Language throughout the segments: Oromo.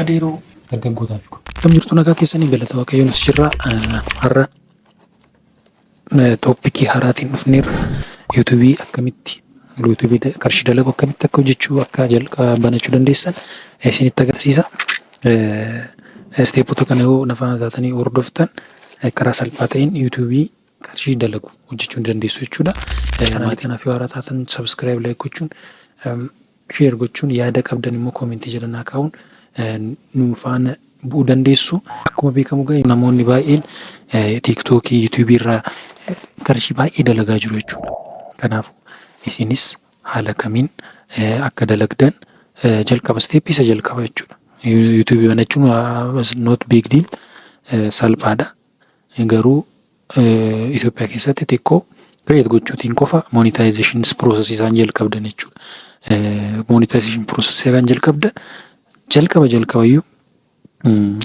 Adeeroo dargaggootaa fi. Akkam jirtu nagaa keessanii galata waaqayyoo nuti jirra. Har'a tooppikii haaraatiin dhufneerra. Yuutuubii akkamitti yuutuubii qarshii dalagu akkamitti akka hojjechuu akka jalqaba banachuu dandeessan isinitti agarsiisa. Isteepota kana yoo na faana taatanii hordoftan karaa salphaa ta'een yuutuubii qarshii dalagu hojjechuu ni dandeessu jechuudha. Maatii kanaaf yoo haaraa taatan sabiskiraayib laayik gochuun Share gochuun yaada qabdan immoo comment jala naa kaa'uun nu faana bu'uu dandeessu. Akkuma beekamu egaa namoonni baay'een TikTok, YouTube irraa qarshii baay'ee dalagaa jiru jechuudha. Kanaafuu isinis haala kamiin akka dalagdan jalqaba step isa jalqaba jechuudha. YouTube banachuun was not big deal salphaadha. garuu Ethiopia keessatti xiqqoo create gochuutiin qofa monetization process isaan jalqabdan jechuudha. Monetization process isaan jalqabdan jalqaba jalqabayyuu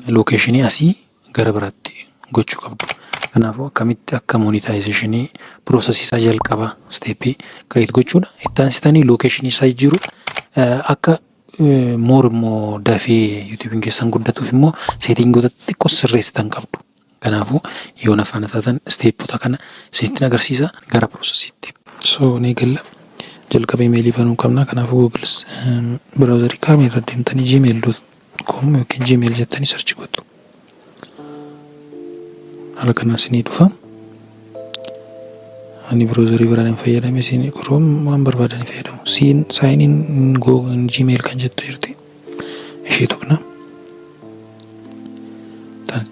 lokeeshinii asii gara biraatti gochuu qabdu. Kanaafuu akkamitti akka monetization process isaa jalqaba steepii create gochuudha. Itti aansitanii lokeeshinii isaa jijjiiruu akka Moor immoo dafee yuutuubiin keessan guddatuuf immoo seetingoota xixiqqoo sirreessitan qabdu. Kanaafuu yoo na faana taatan isteeppota kana isinitti agarsiisa gara piroosesiitti. So ni galla. Jalqaba imeelii banuu qabna. Kanaafuu Google biraawuzarii kaamii irra deemtanii gmail.com yookiin gmail jettanii sarchi gootu. haala kanaan isinii dhufa ani browserii biraan hin fayyadame isin chrome waan barbaadan hin fayyadamu siin sign in google gmail kan jettu jirti ishee tuqna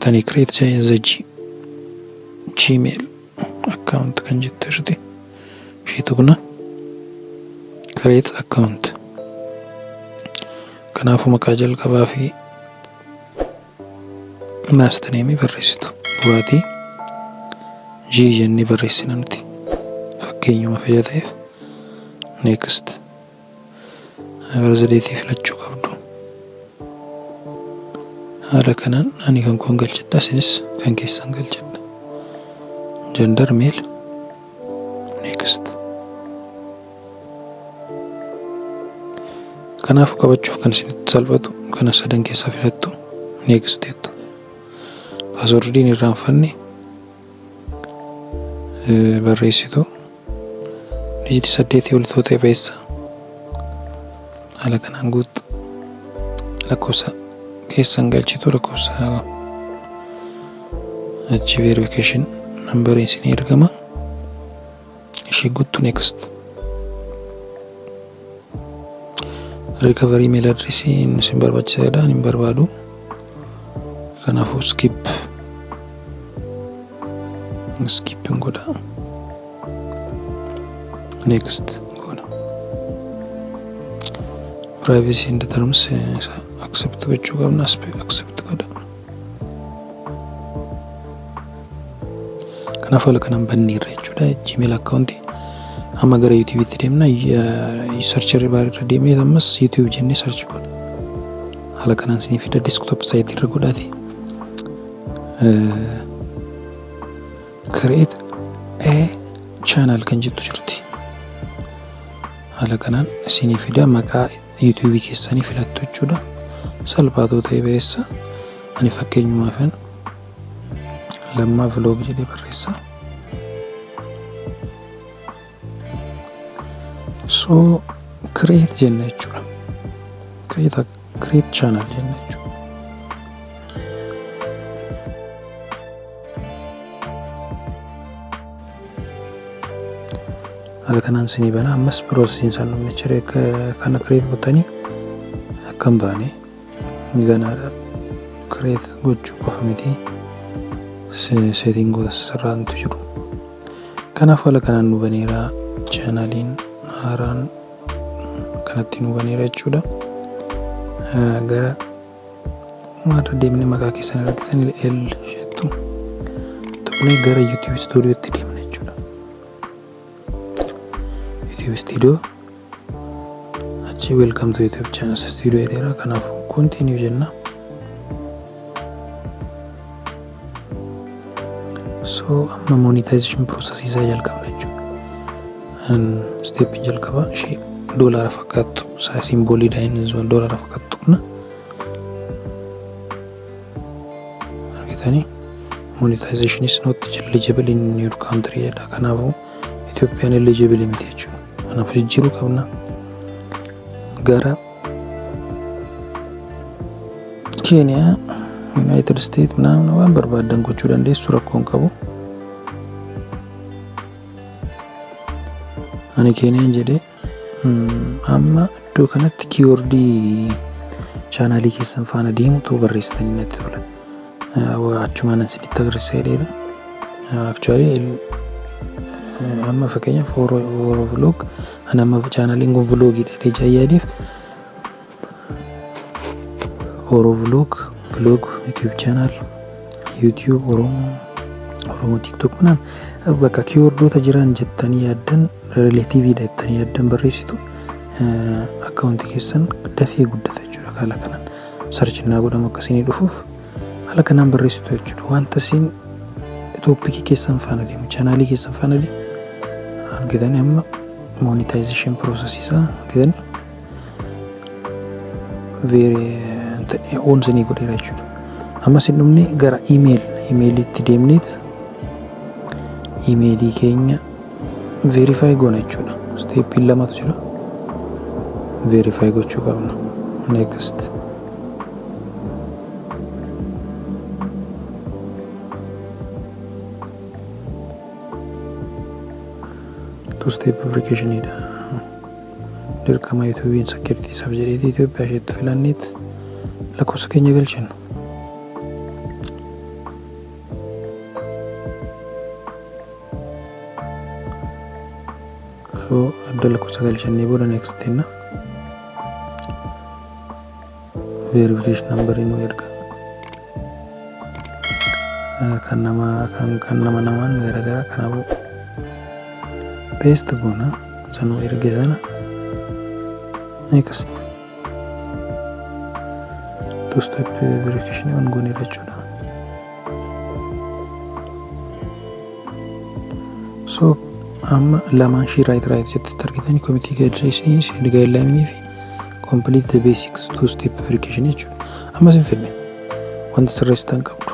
tani create the G- gmail account kan jettu jirti ishee tuqna create account kanaafuu maqaa jalqabaa fi Last name barreessitu buraatii G jennee barreessina nuti fakkeenyuma fayyaa ta'eef next barzadeetii filachuu qabdu haala kanaan ani kan koon galchadha isinis kan keessan galchadha gender male next Kanaaf qabachuuf kan isinitti salphatu kana sadan keessaa filattu next jettu. Paaswordii hin irraanfanne barreessitu dijiti saddeetii ol tootee beessa haala kanaan guuttu lakkoofsa keessan galchitu lakkoofsa achi verification nambariin isinii ergama. Ishee guttu next. Recovery mail address inni isin barbaachisa jedha hin barbaadu. Kanaafuu skip. Skip hin godha. Next goona. Privacy and terms accept gochuu qabna accept godha. kanaaf haala kanaan bannee irra jechuudha gmail account amma gara youtube itti deemna search irra baar irra deemee ammas youtube jennee search godha haala kanaan isin fida desktop site irra godhaati create a channel kan jettu jirti haala kanaan isin fida maqaa YouTube keessanii filattu jechuudha. Salphaatoo ta'e ba'eessa. Ani fakkeenyumaafan lammaa vlog jedhee barreessa. So create jenna jechuudha. Create, create channel jenna jechuudha. haala kanaan sinii bana ammas piroosesiin isaan dhumnicha kana kireet gottanii akka hin baane ganaadha kireet gochuu qofa miti seetingoota sirraantu jiru kanaaf haala kanaan nu baneera chaanaaliin haaraan kanatti nu baneera jechuudha gara Akkuma irra deemnee maqaa keessan argitan L isheettu tuqnee gara YouTube Studiotti deemna jechuudha. YouTube Studio achi welcome to YouTube channel studio jedheera kanaaf continue jenna. so amma monetization process isaa jalqabna jechuudha stepin jalqaba ishee doolaara fakkaattu isaa simboolii daa'imni doolaara fakkaattu qabna argitanii monetization is not eligible in your country jedha kanaafuu Itoophiyaan eligible miti jechuudha kanaaf jijjiiruu qabna gara keeniyaa yuunaayitid isteet naamna waan barbaaddan gochuu dandeessu rakkoo hin qabu ani keeniyaan jedhee amma iddoo kanatti kiiwordii chaanaalii keessan faana deemutu barreessitanii natti tola achumaan isinitti agarsiisa jedheera. Actually amma fakkeenyaaf Oro Vlog an amma chaanaliin kun vloogiidha jecha yaadiif Oro Vlog vlog YouTube channel YouTube Oromo Oromo TikTok kunaan bakka kiiwordoota jiran jettanii yaaddan rileetiiviidha jettanii yaaddan barreessitu akkaawunti keessan dafee guddata jechuudha kaala kanaan. Search innaa godhamu akka isinii dhufuuf haala kanaan barreessitu jechuudha. Wanta isin tooppikii keessan faana deemu, chaanaalii keessan faana deemu argitanii amma monetization process isaa argitanii very on isinii godheera jechuudha. Amma isin dhumne gara email emailiitti deemneet emailii keenya Verify goona jechuudha. Steepiin lamatu jira. Verify gochuu qabna. Next. Two step verification dha. Dirqama yuutuubiin security isaaf jedheeti Itoophiyaa isheetti filanneet lakkoofsa keenya galchina. Afoo adda lakkoofsa galchannee booda next jenna. Verification number nu erga. Kan nama kan kan nama namaan garaagaraa kanaafuu paste goona isa nu erge sana next. two step verification on goone jechuudha. So amma lamaan shii right right jettitti argitanii committee guidelines and guideline fi complete the basics two step verification jechuudha. Ammas hin fidne wanti sirreessitan qabdu.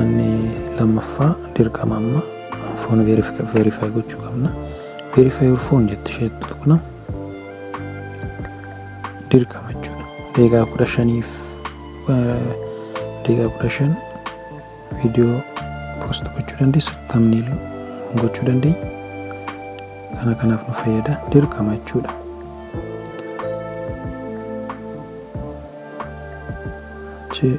Inni lammaffaa dirqama amma foon verify gochuu qabna. Verify your phone jette ishee tuqna. Dirqama jechuudha. Deegaa kudha shaniif deegaa kudha shan viidiyoo poost gochuu dandeessa. Tamniil gochuu dandeenya. Kana kanaaf nu fayyada. Dirqama jechuudha. Jee.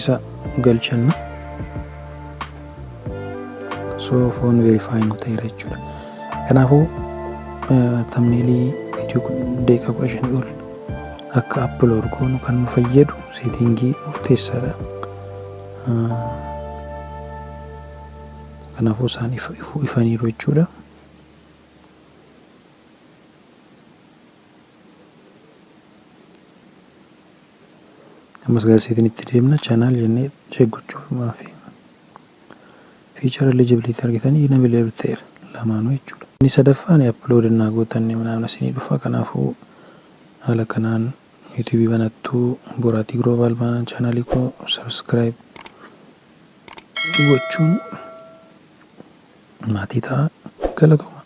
isa galchanna so foon verify nu ta'eera jechuudha kanaafuu tamneelii viidiyoo kun deeqaa kudha shanii ol akka upload goonu kan nu fayyadu seetingii murteessaadha kanaafuu isaan ifaniiru jechuudha ammas garasiitiin itti deemna channel jennee check gochuuf maafi feature eligibility argitanii inavailable ta'eera lamaanuu jechuudha inni sadaffaan upload innaa gootan namna isinii dhufa kanaafuu haala kanaan youtube banattu boraatii global baan channel koo subscribe gochuun maatii ta'a galatooma